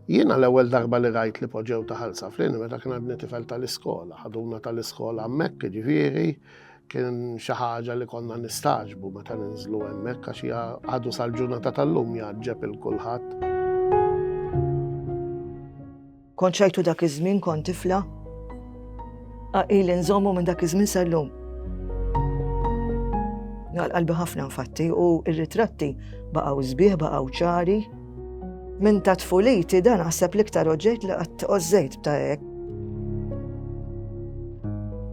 Jiena l-ewwel darba li rajt li poġġew ta' ħalsa f'lini meta kien għadni tifel tal-iskola, ħaduna tal-iskola hemmhekk ġifieri kien xi ħaġa li konna nistaġbu meta ninżlu hemmhekk għax hija għadu sal-ġurnata tal-lum jgħaġġeb il kulħadd. Kont xajtu dak iż-żmien kont tifla. Qaqili nżommu minn dak iż-żmien sal-lum. Għal qalbi ħafna nfatti u r-ritratti baqgħu sbieħ baqgħu ċari. Minn ta' tfuliti dan naħseb l-iktar oġġett li qatt ożżejt ta' hekk.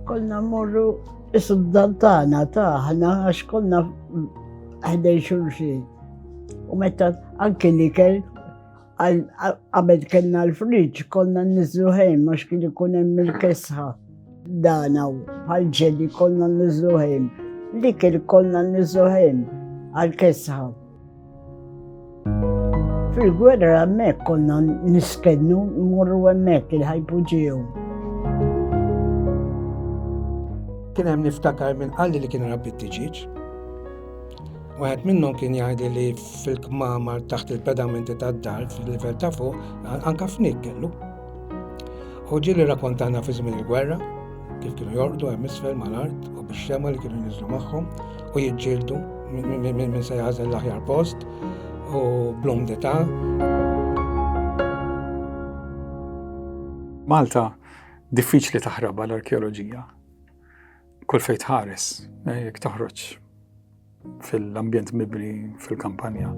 Konna mmorru is-suddan tagħna taħna għax konna ħdej xulxin. U meta anke li kell Qabel kellna l-friġ, konna nizlu ħejn, għax kien ikun hemm il-kesħa. Dana u bħal-ġeli konna nizlu ħejn. Li kien konna nizlu ħejn għal-kesħa. Fil-gwerra hemmhekk konna niskennu morru hemmhekk il-ħajpu ġew. Kien hemm niftakar minn qalli li kien rabbi t-tiġiġ. Waħed minnhom kien jgħidi li fil-kmamar taħt il-pedamenti tad-dar fil-livell ta' fuq anka fnik kellu. U ġieli rakkontana fi żmien il-gwerra kif kienu jorqdu hemm isfel mal-art u bix-xema li kienu jinżlu magħhom u jiġġieldu minn se jażel l-aħjar post u blum dita. Malta diffiċli taħrabha l-arkeoloġija Kull fejn tħares, eh, jekk toħroġ fil-ambjent mibni fil-kampanja.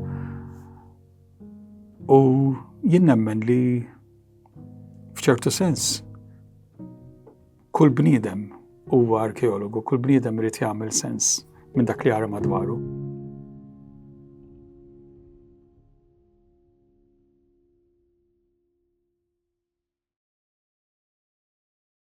U jien nemmen li f'ċertu sens kull bniedem huwa arkeologu, kull bniedem irid jagħmel sens minn dak li jara madwaru.